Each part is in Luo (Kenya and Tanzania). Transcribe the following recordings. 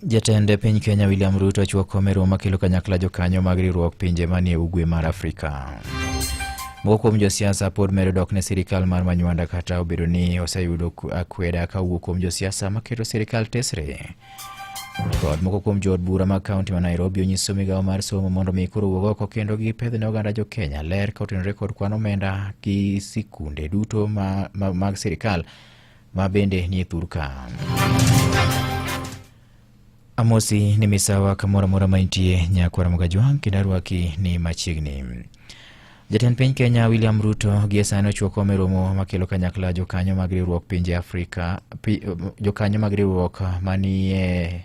Jatend e piny Kenya William Ruto ochuo kome romo makelo kanyakla jokanyo mag riwruok pinje manie ugwe mar Afrika. Moko kuom josiasa pod medo dok ne sirikal mar Manywanda kata obedo ni oseyudo akweda ka wuok kuom josiasa maketo sirikal tesre. Kod moko kuom jood bura mag kaunti ma Nairobi onyiso migawo mar somo mondo mi koro wuog oko kendo gipedh ne oganda jo Kenya ler ka otenore kod kwan omenda gi sikunde duto ma, ma, mag sirikal ma bende nie thur ka. Amosi ni misawa kamoro amora ma intie nyakwara Mugajwang' kendo arwaki ni machiegni. Jatend piny Kenya William Ruto gie sani ochuo kom e romo makelo kanyakla jokanyo mag riwruok pinje Afrika, pi, jokanyo mag riwruok manie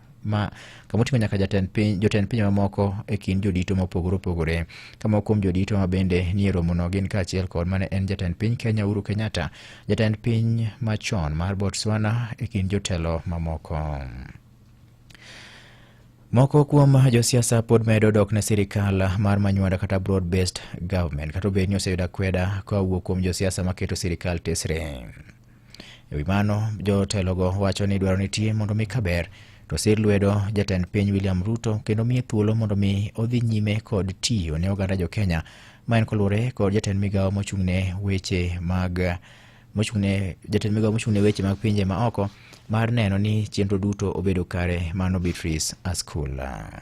ma kama oting'o nyaka jatend piny jotend pinje mamoko e kind jodito mopogore opogore kama kuom jodito ma bende nie romono gin kaachiel kod mane en jatend piny kenya uhuru kenyatta jatend piny machon mar botswana e kind jotelo mamoko moko kuom josiasa pod medo dok ne sirikal mar manywanda kata broad based government kata obed ni oseyudo akweda kowuok kuom josiasa maketo sirikal tesre E wi mano, jotelogo wacho ni dwaro nitie mondo mi kaber to sir lwedo jatend piny William Ruto kendo miye thuolo mondo mi odhi nyime kod tiyo ne oganda jo Kenya ma en koluwore kod jatend migawo mochung'ne weche mag mochung'ne jatend migawo mochung'ne weche mag pinje ma oko mar neno ni chenro duto obedo kare mano Beatrice Askula.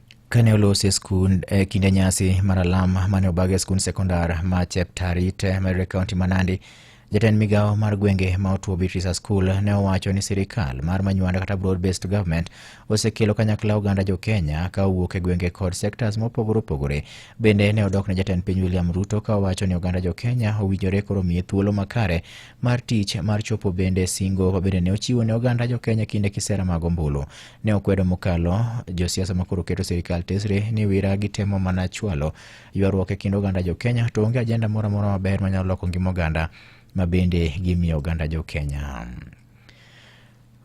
Kane olos e skund e kinde nyasi mar alam mane obag e skund sekondar ma Cheptarit e Meru e kaunti ma Nandi, jatend migawo mar gwenge ma otuo Beatrice Askul ne owacho ni sirikal mar manywanda kata broad based government osekelo kanyakla oganda jo Kenya ka owuok e gwenge kod sectors mopogore opogore. Bende ne odok ne jatend piny William Ruto ka owacho ni oganda jo Kenya owinjore koro miye thuolo makare mar tich mar chopo bende singo ma bende ne ochiwo ne oganda jo Kenya kinde kisera mag ombulu. ne okwedo mokalo josiasa makoro keto sirikal tesre ni wira gitemo mana chwalo ywaruok e kind oganda jokenya to onge ajenda moro amora maber manyalo loko ngima oganda ma bende gimiyo oganda jokenya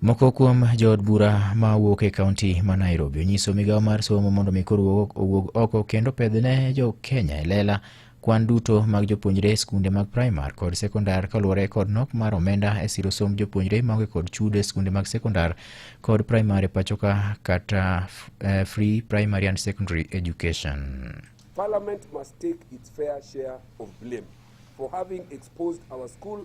moko kuom jood bura ma wuok e kaunti ma nairobi onyiso migawo mar somo mondo mi koro owuog oko kendo pedhne jokenya e lela kwan duto mag jopuonjre e skunde mag primar kod sekondar kaluwore kod nok mar omenda e siro somb jopuonjre maonge kod chudo e skunde mag sekondar kod primar e pachoka kata f- eh, free primary and secondary education. Parliament must take its fair share of blame for having exposed our school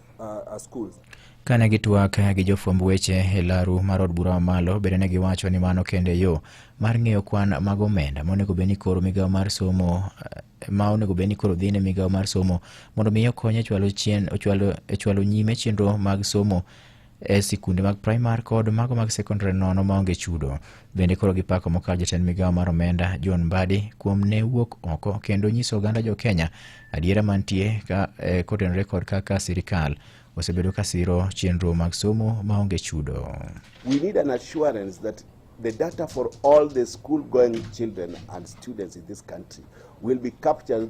uh, schools. Kane gitwak gi jofwamb weche e laru mar od bura mamalo, bende ne giwacho ni mano kende yo mar ng'eyo kwan mag omenda monego bed ni koro migawo mar somo eh, ma onego bed ni koro dhi ne migawo mar somo mondo mi okonye chwalo chien ochwalo e chwalo nyime chenro mag somo e sikunde mag primar kod mago mag sekondari nono maonge chudo. Bende koro gipako mokalo jatend migawo mar omenda John Mbadi kuom ne wuok oko kendo nyiso oganda jo Kenya adiera mantie ka, eh, kotenore kod kaka sirikal osebedo ka siro chenro mag somo maonge chudo. We need an assurance that the data for all the school going children and students in this country will be captured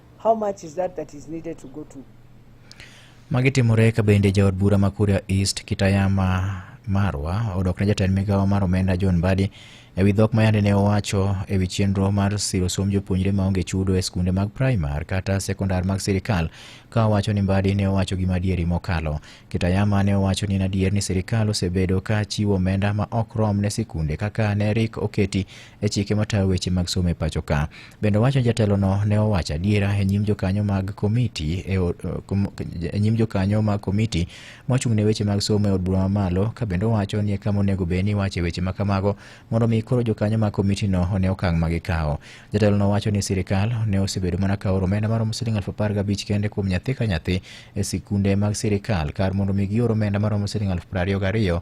How much is that that is needed to go to? Magi timore ka bende jaod bura ma Kuria East Kitayama Marwa odok ne jatend migawo mar omenda John Mbadi e wi dhok ma yande ne owacho e wi chenro mar siro somb jopuonjre ma onge chudo e skunde mag primar kata sekondar mag sirikal ka owacho ni Mbadi ne owacho gima adieri mokalo. Kitayama ne owacho ni en adier ni sirikal osebedo ka chiwo omenda ma ok rom ne sikunde kaka ne rik oketi e chike matayo weche mag somo e pacho ka. Bende owacho ni jatelono ne owacho adiera e nyim jokanyo mag komiti e od- eh, kom- e nyim jokanyo mag komiti mochung' ne weche mag somo e od bura mamalo ka bende owacho ni e kama onego bed ni iwache weche ma kamago mondo mi koro jokanyo mag komitino one okang' ma gikawo. Jatelono wacho ni sirikal ne osebedo mana ka oro omenda maromo siling aluf apar gabich kende kuom nyathi ka nyathi e sikunde mag sirikal kar mondo mi gior omenda maromo siling aluf piero ariyo gariyo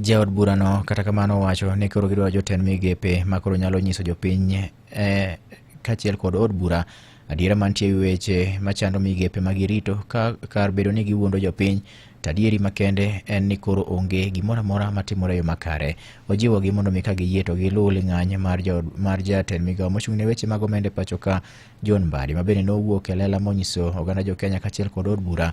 Jaod burano kata kamano owacho ni koro gidwaro jotend migepe ma koro nyalo nyiso jopiny eh, kaachiel kod od bura adiera mantie e wi weche machando migepe ma girito ka kar bedo ni giwuondo jopiny to adieri makende en ni koro onge gimoro amora matimore e yo makare. Ojiwogi mondo mi ka giyie to giluw ling'any mar, jo, mar jatend migawo mochung' ne weche mag omenda e pacho ka John Mbadi ma bende nowuok e lela monyiso oganda jo Kenya kaachiel kod od bura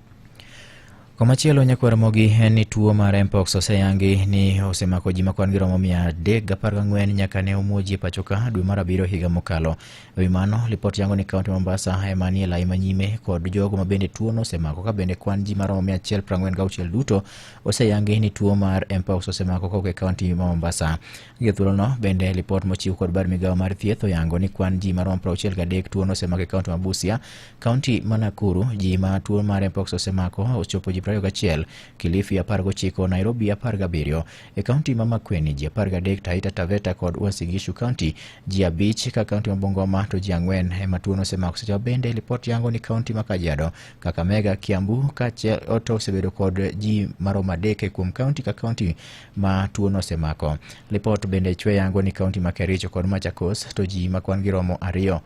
Komachielo nyakwar mogi en ni tuo mar mpox oseyangi ni osemako ji ma kwan-gi romo mia adek gapar gang'wen nyaka ne omuo ji e pacho ka dwe mar abiriyo higa mokalo. E wi mano, lipot yango ni kaunti ma Mombasa ema nie lai manyime kod jogo ma bende tuono osemako ka bende kwan ji ma romo mia achiel prang'wen gauchiel duto oseyangi ni tuo mar mpox osemako kowuok e kaunti ma Mombasa. Gie thuolono bende lipot mochiw kod bad migawo mar thieth oyango ni kwan ji ma romo prauchiel gadek tuono osemako e kaunti ma Busia Kaunti ma Nakuru ji ma tuo mar mpox osemako ochopo ji 21, Kilifi 19, Nairobi 17. E kaunti ma Makueni ji 13, Taita Taveta kod Uasin Gishu County ji abich, ka kaunti ma Bungoma to ji ang'wen ema tuono osemako. Seche bende lipot yango ni kaunti ma Kajiado, Kakamega, Kiambu kaachiel to osebedo kod ji maromo adek kuom kaunti ka kaunti ma tuono osemako. Lipot bende chwe yango ni kaunti ma Kericho kod Machakos to ji ma kwan-gi romo ariyo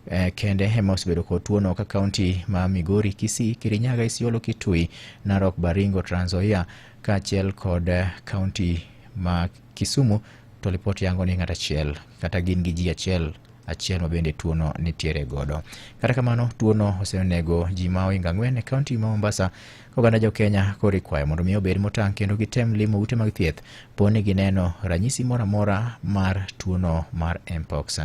eh, kende ema osebedo kod tuono ka kaunti ma Migori, Kisii, Kirinyaga, Isiolo, Kitui, Narok, Baringo, Trans Nzoia kaachiel kod eh, kaunti ma Kisumu to ripot yango ni ng'at achiel kata gin gi ji achiel achiel ma bende tuono nitiere godo. Kata kamano tuono osenego ji ma ohingo ang'wen e kaunti ma Mombasa ka oganda jo Kenya koro ikwayo mondo mi obed motang' kendo gitem limo ute mag thieth po ni gineno ranyisi moro amora mar tuono mar mpox.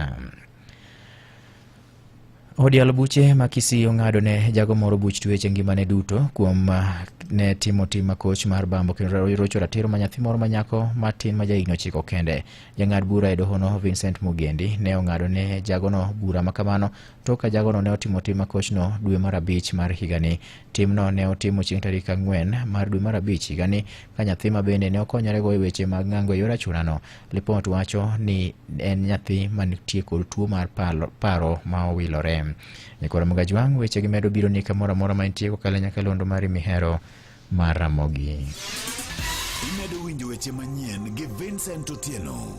Odial buche ma Kisii ong'ado ne jago moro buch tuech e ngimane duto kuom ah, ne timo tim makoch mar bambo kendo rocho ratiro ma nyathi moro manyako matin ma jahigni ochiko kende. Jang'ad bura e dohono Vincent Mugendi ne ong'ado ne jagono bura ma kamano tok ka jagono ne otimo tim makochno dwe mar abich mar higani. Timno ne otimo chieng' tarik ang'wen mar dwe mar abich higani ka nyathi ma bende ne okonyorego e weche mag ng'ango e yor achunano Lipot wacho ni en nyathi manitie kod tuo mar palo- paro ma owilore. Nyakoro Mugajwang' wechegi medo biro ni kamoro amora ma intie kokalo e nyakalondo mari mihero mar Ramogi. Imedo winjo weche manyien gi Vincent Otieno.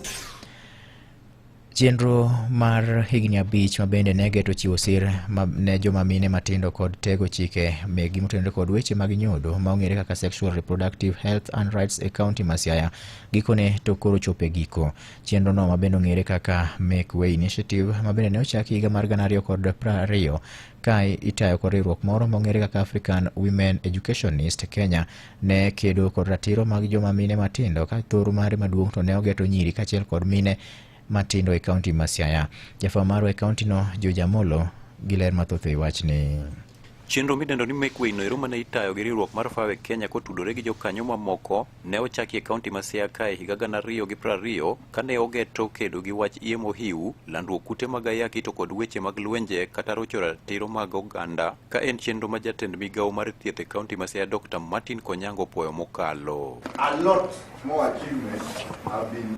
Chenro mar higni abich ma bende ne geto chiwo sir ma- ne joma mine matindo kod tego chike megi motenore kod weche mag nyodo ma ong'ere kaka Sexual Reproductive Health and Rights e kaunti ma Siaya Gikone to koro chopo e giko. Chenrono ma bende ong'ere kaka Make Way Initiative ma bende ne ochaki higa mar gana ariyo kod piero ariyo ka itayo kod riwruok moro ma ong'ere kaka African Women Educationist Kenya ne kedo kod ratiro mag joma mine matindo ka thoro mare maduong' to ne ogeto nyiri kaachiel kod mine matindo e kaunti ma Siaya. Jafwambo marwa e kauntino George Amolo gi ler mathoth e wachni. Chenro midendo ni Make Way noero mane itayo gi riwruok mar Fawe Kenya kotudore gi jokanyo mamoko ne ochaki e kaunti ma Siaya kae higa gana ariyo gi piero ariyo kane ogeto kedo gi wach iye mohiu, landruok kute mag ayaki to kod weche mag lwenje kata rocho ratiro mag oganda ka en chenro ma jatend migawo mar thieth e kaunti ma Siaya Dr. Martin Konyango opwoyo mokalo. A lot more achievements have been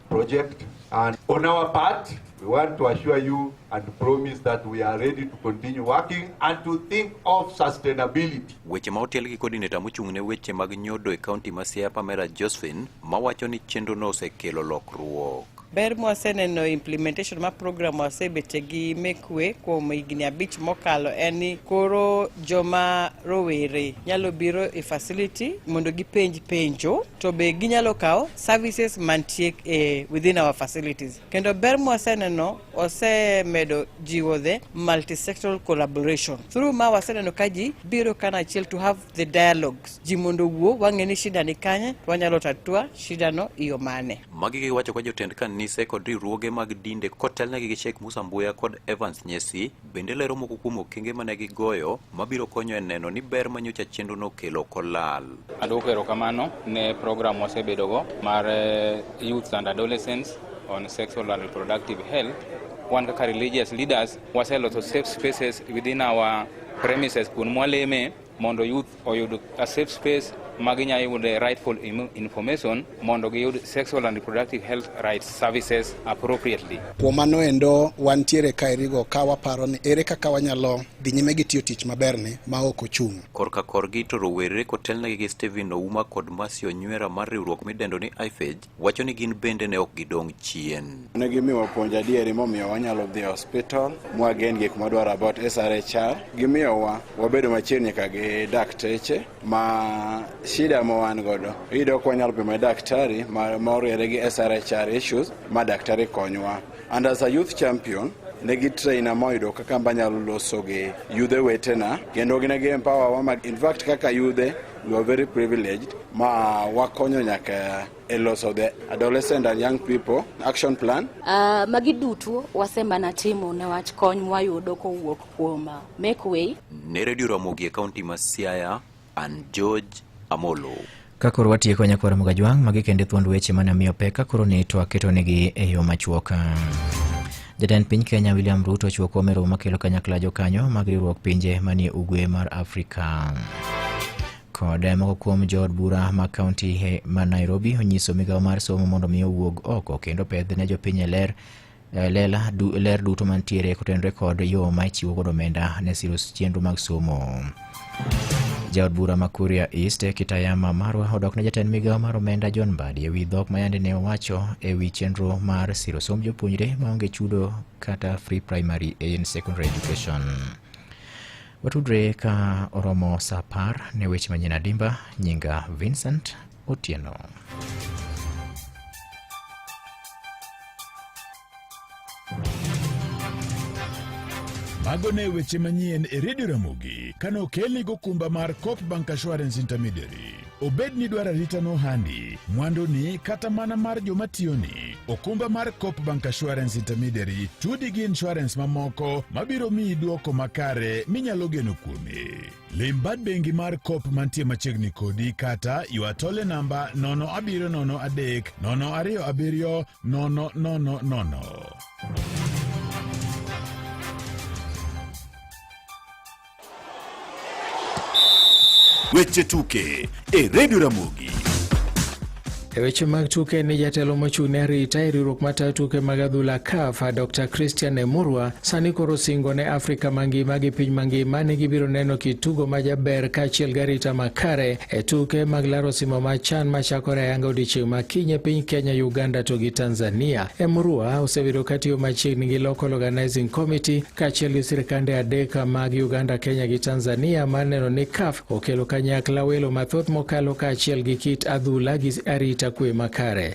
project and on our part we want to assure you and promise that we are ready to continue working and to think of sustainability. Weche ma otel gi coordinator mochung' ne weche mag nyodo e kaunti ma Siaya Pamela Josephine mawacho ni chenro no osekelo lokruok. Ber mwaseneno implementation ma program wasebete gi mekwe kuom higni abich mokalo en ni koro joma rowere nyalo biro e facility mondo gipenj penjo to be ginyalo kawo services mantie e within our facilities kendo ber mwaseneno osemedo jiwo the multisectoral collaboration through ma waseneno ka ji biro kana achiel to have the dialogues ji mondo wuo wang'e ni shida ni kanye to wanyalo tatua shida no iyo mane magi giwacho kwa jotend kanise kod riwruoge mag dinde kotelnegi gi Sheikh Musa Mbuya kod Evans Nyesi bende lero moko kuom okenge ma ne gigoyo mabiro konyo e neno ni ber ma nyocha chenrono okelo ok olal. Adwoko erokamano ne program wasebedogo mar eh, Youth and Adolescents on Sexual and Reproductive Health. Wan kaka religious leaders waseloso safe spaces within our premises kuonde mwaleme mondo youth oyud a safe space ma ginyalo yude rightful information mondo giyud sexual and reproductive health rights services appropriately. Kuom mano endo wantiere ka erigo ka waparo ni ere kaka wanyalo dhi nyime gi tiyo tich maberni ma ok ochung'. Korka korgi to rowere kotelnegi gi Stephen Ouma kod Mercy Onywera mar riwruok midendo ni IFEJ wacho ni gin bende ne ok gidong' chien. Ne gimiwa puonj adieri momiyo wanyalo dhi e hospital mwagen gik mwadwaro about SRHR. Gimiyowa wabedo machiegni ka gi dakteche ma shida ma wan godo iyudo ka wanyalo pimo daktari ma oriere gi SRHR issues ma daktari konywa. And as a youth champion ne gi traina moyudo kaka mbanyalo loso gi yudhe wetena kendo ne gi empower wa in fact kaka yudhe You are very privileged. Ma wakonyo nyaka e loso the adolescent and young people action plan. Uh, magi duto wasemana timo newach kony mwayudo kowuok kuom ah, Make Way. Ne Radio Ramogi e kaunti ma Siaya, and George Amolo. Ka koro watieko nyakwar Mugajwang' magi kende thuond weche mane miyo pek ka koro ne to aketonegi e yo machuoka. Jatend piny Kenya William Ruto ochiwo kom e romo makelo kanyakla jokanyo mag riwruok pinje manie ugwe mar Afrika. Kod moko kuom jood bura ma kaunti ma Nairobi onyiso migawo mar somo mondo mi owuog oko kendo pedh ne jopiny e ler eh, lela du, ler duto mantiere kotenore kod yo ma ichiwo godo omenda ne siro chenro mag somo. Jaod bura ma Kuria East Kitayama Marwa odok ne jatend migawo mar omenda John Mbadi ewi dhok ma yande ne owacho ewi chenro mar siro somb jopuonjre maonge chudo kata free primary and secondary education. Watudre ka oromo sa apar ne weche manyien adimba. Nyinga Vincent Otieno. Mago ne weche manyien e redio Ramogi kane okelni gokumba mar Coop Bank Assurance Intermediary. Obed ni dwaro arita nohandi, mwanduni kata mana mar joma tiyoni, okumba mar Coop Bank Assurance Intermediary tudi gi insurance mamoko mabiro miyi dwoko makare minyalo geno kuome. Lim bad bengi mar Coop mantie machiegni kodi kata ywa tole namba 0703 027 No, no, no, no, no, no. Weche tuke e Radio Ramogi. E weche mag tuke ni jatelo mochung' ne arita e riwruok matayo tuke mag adhula CAF Dr Christian Emurwa sani koro singo ne Afrika mangima gi piny mangima ni gibiro neno kit tugo ma jaber kaachiel gi arita makare E tuke mag laro simo ma chan machakore ayanga odiechieng' ma kinye piny Kenya, Uganda to gi Tanzania. E Murua osebedo katiyo machiegni gi Local Organizing Committee kaachiel gi sirkande adek mag Uganda, Kenya gi Tanzania mar neno ni CAF okelo kanyakla welo mathoth mokalo kaachiel gi kit adhula gi arita kwe makare.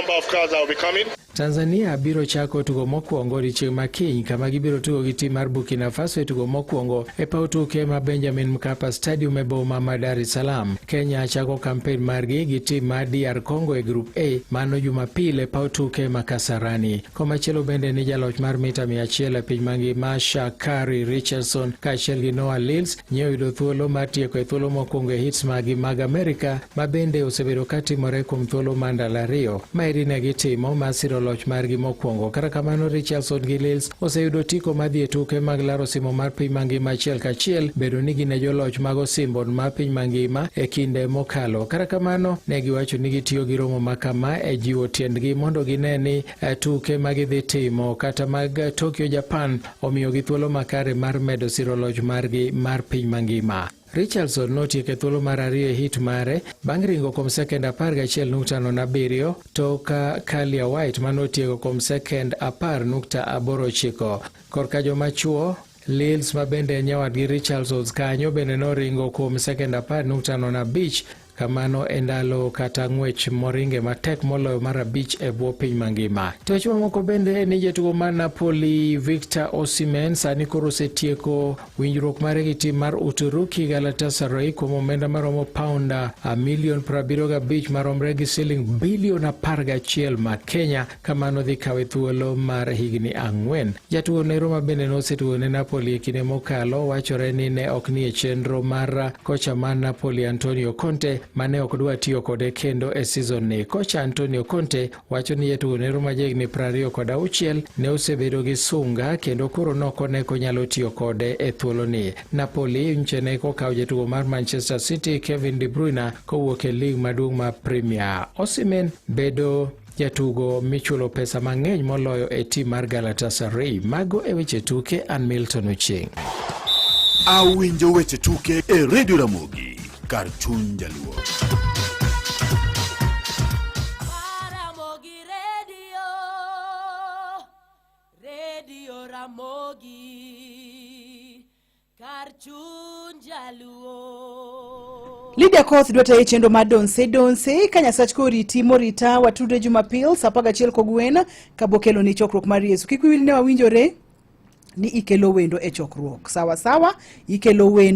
number of crowds that will be coming. Tanzania biro chako tugo mokwongo odiechieng' ma kiny kama gibiro tugo gi tim mar Burkina Faso e tugo mokwongo e paw tuke ma Benjamin Mkapa Stadium e boma ma Dar es Salaam. Kenya chako kampen margi gi tim mar DR Congo e Group A mano Jumapil e paw tuke ma Kasarani. Komachielo bende ni jaloch mar mita 100 e piny mangima Shakari Richardson kaachiel gi Noah Lyles Nye oyudo thuolo mar tieko e thuolo mokwongo e hits magi mag Amerika ma bende osebedo ka timore kuom thuolo mar ndalo ariyo ma eri ne gitimo ma siro loch margi mokwongo. Kata kamano, Richardson gi Lils oseyudo otiko ma dhi e tuke mag laro simo mar piny mangima achiel kachiel bedo ni gin e joloch mag osimbo mar piny mangima e kinde mokalo. Kata kamano, ne giwacho ni gitiyo gi romo ma kama e jiwo tiendgi mondo gine ni eh, tuke ma gidhi timo kata mag Tokyo, Japan omiyogi thuolo makare mar medo siro loch margi mar piny mangima. Richardson notieko e thuolo mar ariyo e hit mare bang' ringo kuom sekend 11.07 to ka Kalia White ma notieko kuom sekend 10.89. Korka joma chuo Lils ma bende en nyawadgi Richardsons kanyo bende noringo kuom sekend 10.05 Kamano e ndalo kata ng'wech moringe matek moloyo mar abich e bwo piny mangima. Tich mamoko bende ni jatugo mar Napoli Victor Osimhen sani koro osetieko winjruok mare gi tim mar Uturuki Galatasaray kuom omenda maromo paunda milion 75 maromre gi siling bilion 11 ma Kenya Kamano dhi kawe thuolo mar higni ang'wen. Jatuo ne Roma bende nosetuo ne Napoli e kinde mokalo. Wachore ni ne ok nie chenro mar kocha mar Napoli Antonio Conte ma ne ok dwa tiyo kode kendo e season ni. Kocha Antonio Conte wacho ni jatuo ne Roma jahigni prariyo kod auchiel ne osebedo gi sunga kendo koro noko ne konyalo tiyo kode e thuolo ni. Napoli nche ne kokawo jatuo mar Manchester City Kevin De Bruyne kowuok e lig maduong' mar Premier. Osimen bedo Jatugo michulo pesa mang'eny moloyo e tim mar Galatasaray. Mago e weche tuke, an Milton Ocheng. Awinjo weche tuke e Radio Ramogi, kar chuny jaluo. Ramogi. Lydia Koth dwa taye chenro mar Donse Donse ka Nyasach koriti morita watudre Jumapil saa apar gachiel kogwen kabokelo ni chokruok mar Yesu. Kik wiwil ne wawinjore ni ikelo wendo e chokruok. Sawa sawa, ikelo wendo